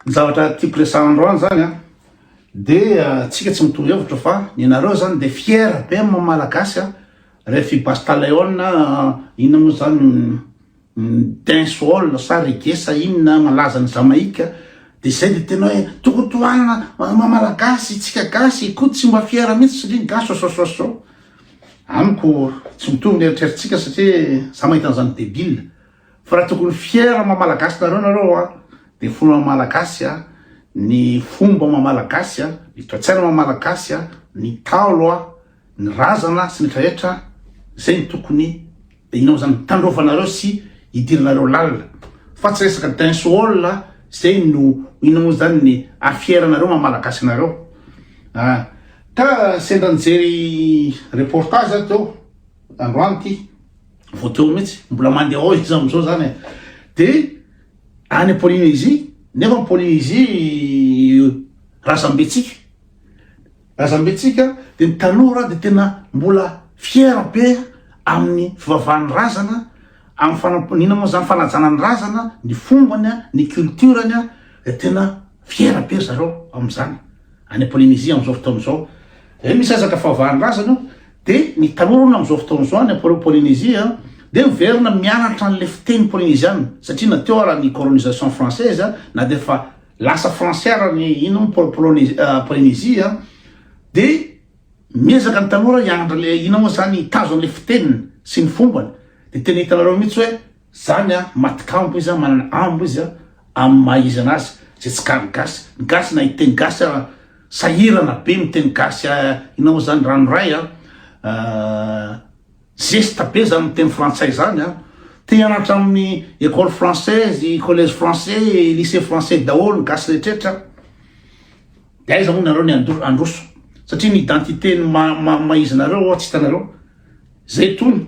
Ny zavatra tiako resahandreo any zany an, de tsika tsy mitovy hevitra fa ny nareo zany de fier be am malagasy an, ref i basta leon na inona mo zany dancehall sa reggae sa inona malaza any Jamaïque de zay de tena oe tokony tohanina ma malagasy tsika gasy koa tsy mba fier mintsy satria ny gasy sosososo amiko tsy mitovy ny eritreritsika satria za mahita anzany debile. Fa raha tokony fier maha malagasy nareo nareo a de fona maha malagasy a ny fomba maha malagasy a ny toetsaina maha malagasy a ny taolo a ny razana sy ny etra etra zay ny tokony inao zany tandrovanareo sy idiranareo lalina fa tsy resaka dancehall a zay no inao zany ny ah fier anareo maha malagasy anareo a ka sendra nijery reportage aho teo androany ty. vao teo mihitsy mbola mandeha ao izy amizao zany e de any polynésie nefa polynésie razambetsika razambetsika de ny tanora de tena mbola fiera be amin'ny fivavahan'ny razana amin'ny fanamponiana moa zany fanajana ny razana ny fombany a ny culturany a de tena fiera be zareo am'izany any polynésie am'izao fotoana izao e misy ezaka fivavahan'ny razana io Dia ny tanora hono amin'izao fotoana izao any am-polo Polynésie a, dia miverina mianatra an'ilay fiteny polynésiana, satria na teo ara ny colonisation française a, na dia efa lasa français ara ny ino ny pôly Polone- ah, Polynésie a, dia miezaka ny tanora hianatra ilay ino moa izany, hitazona ilay fiteniny sy ny fombany. Dia tena hitanareo mihitsy hoe Zany an matikambo izy an manana ambo izy an amin'ny maha izy anazy zay tsy kary gasy ny gasy na hiteny gasy ara sahirana be miteny gasy a inona moa zany ranoray an zesta be zany miteny frantsay zany an te hianatra amin'ny ecole française collège français lycée français daholo ny gasy rehetrretra de aiza moa nareo ny andro androso satria ny identité ny maha maha izy nareo tsy hitanareo zay tony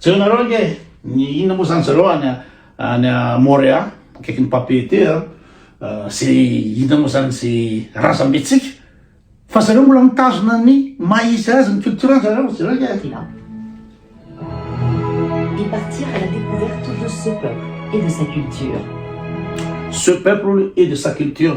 Jereo nareo ange ny inona moa zany zareo any any Morea akaikin'ny Papeete a ze inona moa zany ze razambetsika fa zareo mbola mitazona ny maha izy azy ny culture zareo jereo ange Fina. Et partir à la découverte de ce peuple et de sa culture. Ce peuple et de sa culture.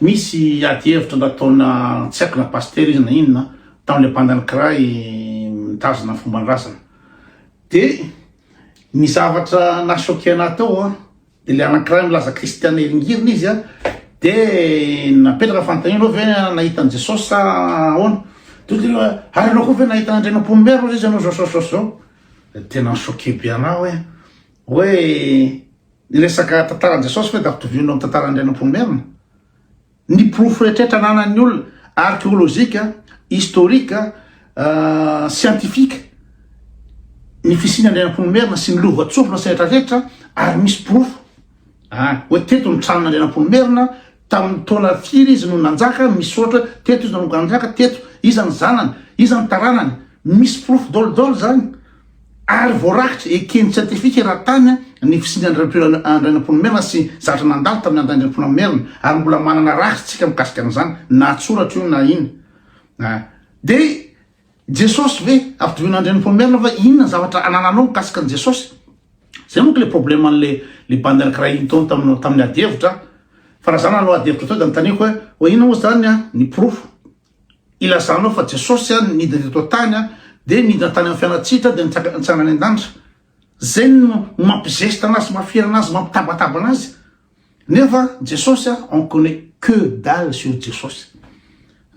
Misy ady hevitra nataona tsy haiko na pasitera izy na inona tamin'ilay bandan'ny cray mitazona ny fomban-drazana de ny zavatra na choqué anahy tao a de le anankiray milaza kristiana hiringirina izy a de napetraka fanontaniana anao ve nahita an'i Jesosy sa ahoana de hoy izy hoe ary ianao koa ve nahita an'Andrianampoinimerina hoy izy ianao zao zao zao zao de tena ni-choqué be anahy hoe Hoe ny resaka tantaran'i Jesosy ve dia ampitovio amin'ny tantaran'ny Rain'Amponomerina? Ny porofo rehetrrehetra ananan'ny olona, arkeolojika, historika, siantifika, ny fisian'i Andrianamponomerina sy ny lovantsofina sy rehetrarehetra ary misy porofo. Ah, hoe teto ny tranon'i Andrianamponomerina, tamin'ny taona firy izy no nanjaka, misy ohatra hoe teto izy no nanjaka, teto, iza ny zanany, iza ny taranany, misy porofo daholo daholo izany. ary voarakitra eken'ny siantifika raha tany ny fisian'i Andrianampoinimerina sy zavatra nandalo tamin'i Andrianampoinimerina, ary mbola manana rakitra isika mikasika an'izany na an-tsoratra io na inn. Dia Jesosy ve? Ampitoviana Andrianampoinimerina ve? Inona ny zavatra anananao mikasika an'i Jesosy? Izay manko ilay probleman'ilay bandy anankiray nitaony tamin'ny adihevitra, fa raha izaho nanao adihevitra teo dia notaniako hoe, hoe inona moa izany ny porofo? Ilazanao fa Jesosy an nidina eto an-tany an dia nidina tany amin'ny fiainantsitra dia nitsanga nitsanga any an-danitra. Zay no no mampizesta anazy mafiera anazy mampitabataba anazy. Nefa Jesosy an on connait que dalle sur Jesosy.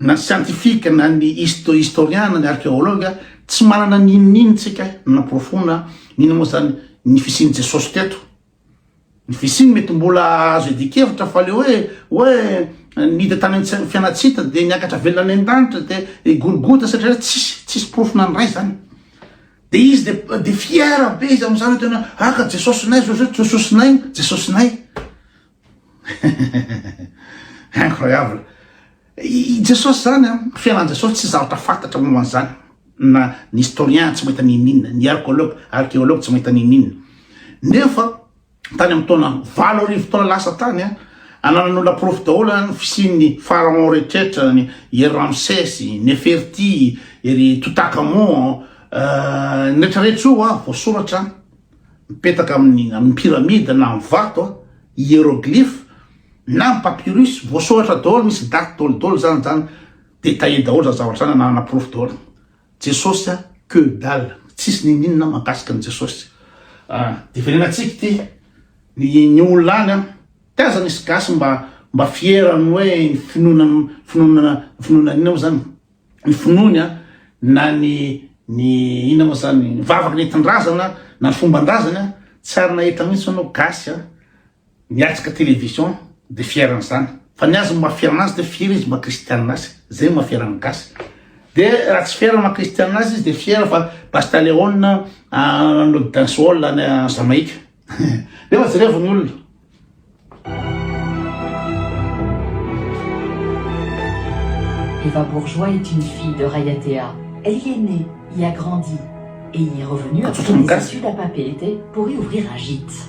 Na ny scientifique na ny histo historien na ny archéologue an tsy manana n'inon'inona tsika nanaporofoana n'inona moa zany ny fisian'i Jesosy teto. Ny fisiany mety mbola azo iadian-kevitra fa le hoe hoe niditra tany amin'ny fianan-tsita dia niakatra velona any an-danitra dia i Golgota satria hoe tsisy tsisy porofo nandray izany. Dia izy dia dia fiera be izy amin'izany hoe tena aka Jesosinay Jesosinay Jesosinay Jesosinay. Incroyable. I Jesosy izany, fiainan'i Jesosy tsy zavatra fantatra momba an'izany, na ny historien tsy mahita n'inon'inona, ny arcologue, archéologue tsy mahita n'inon'inona. Nefa tany amin'ny taona valo arivo taona lasa tany, ananan'olona porofo daholo ny fisian'ny pharaon rehetrretra, ny ery Ramsès, Neferti, ery Toutankhamon, ny retraretra io voasoratra mipetaka amin'ny pyramide na amin'ny vato, hieroglyphe, na ny papyrus voasoratra daholo misy date daholo daholo zany zany de taille daholo zany zavatra zany ananana porofo daholo jesosy a que dalle tsisy ninininona mahakasika ny jesosy ah, de venenatsika ty ny ny olona any an ty aza misy gasy mba mba fiera ny hoe ny finoana finoana finoana inona moa zany ny finoany a na ny ny inona moa zany ny vavaka nentin-drazana na ny fomban-drazana tsy ary nahita mihitsy anao gasy a Miatrika television de fier an'izany. Fa ny azy ny maha fier anazy de fier izy maha kristianina azy. Zay ny maha fier ny gasy. De raha tsy fier maha kristianina azy izy de fier fa basta leona nanolo dancehall any Jamaïque. Nefa jerevo ny olona. Eva Bourgeois est une fille de Rayatea, elle y est née, y a grandi et y est revenue après ses études à Papeete pour y ouvrir un gîte.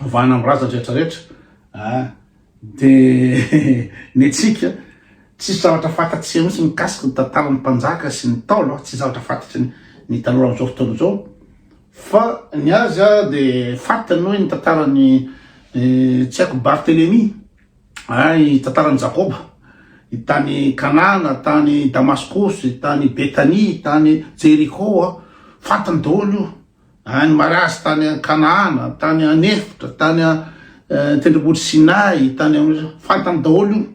vahana am razany rehetra rehetra a ah, de ny antsika tsisy zavatra fantatsika mihitsy mikasika ny tantaran'ny mpanjaka sy ny taolo tsy zavatra fantatry ny taloha am'izao fotoana izao fa ny azy a de fantany hoe ny tantarany eh, tsy haiko bartelemi a i tantarany jakoba i tany kanana tany damaskosy tany betania tany jeriko a fantany daholo io Any Maraz, tany Kanaana, tany any efitra, tany an-tendrombohitry Sinay, tany amin'ny fantany daholo io,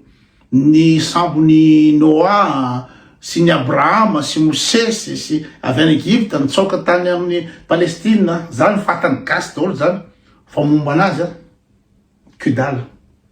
ny sambon'i Noa sy ny Abrahama sy Mosesy sy avy any Egypta nitsaoka tany amin'ny Palestina, zany fantany gasy daholo zany, fa momba anazy an, que dalle.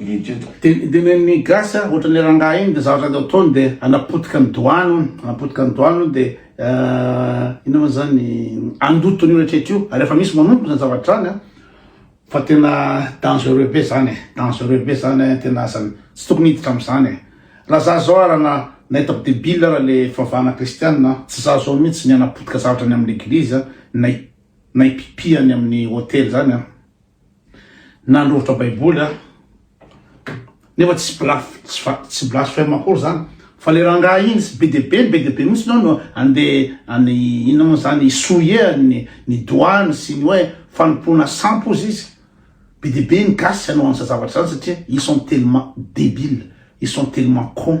Idiot. Dia dia ny gasy a ohatran'ny rangahy iny dia zavatra dia ataony dia hanapotika ny doany hono, hanapotika ny doany hono dia inona moa zany handoto an'io rehetra io ary efa misy manompo izany zavatra izany a, fa tena dangereux be zany e, dangereux be zany tena aza tsy tokony hiditra amin'izany e, raha za zao ary na hitako debile ary le fivavahana kristiana tsy za zao mihitsy ny hanapotika zavatra any amin'ny eglizy na na hipipi any amin'ny hotely zany a. Nandrovitra baiboly aho nefa tsy tsy blasphème akory zany fa le rangahy iny tsy be de be be de be mihitsy nao no ande any inona moa zany souiller ny ny doigny sy ny hoe fanompoana sampy hozy izy be de be ny gasy hanao an'za zavatra zany satria ils sont tellement debile ils sont tellement con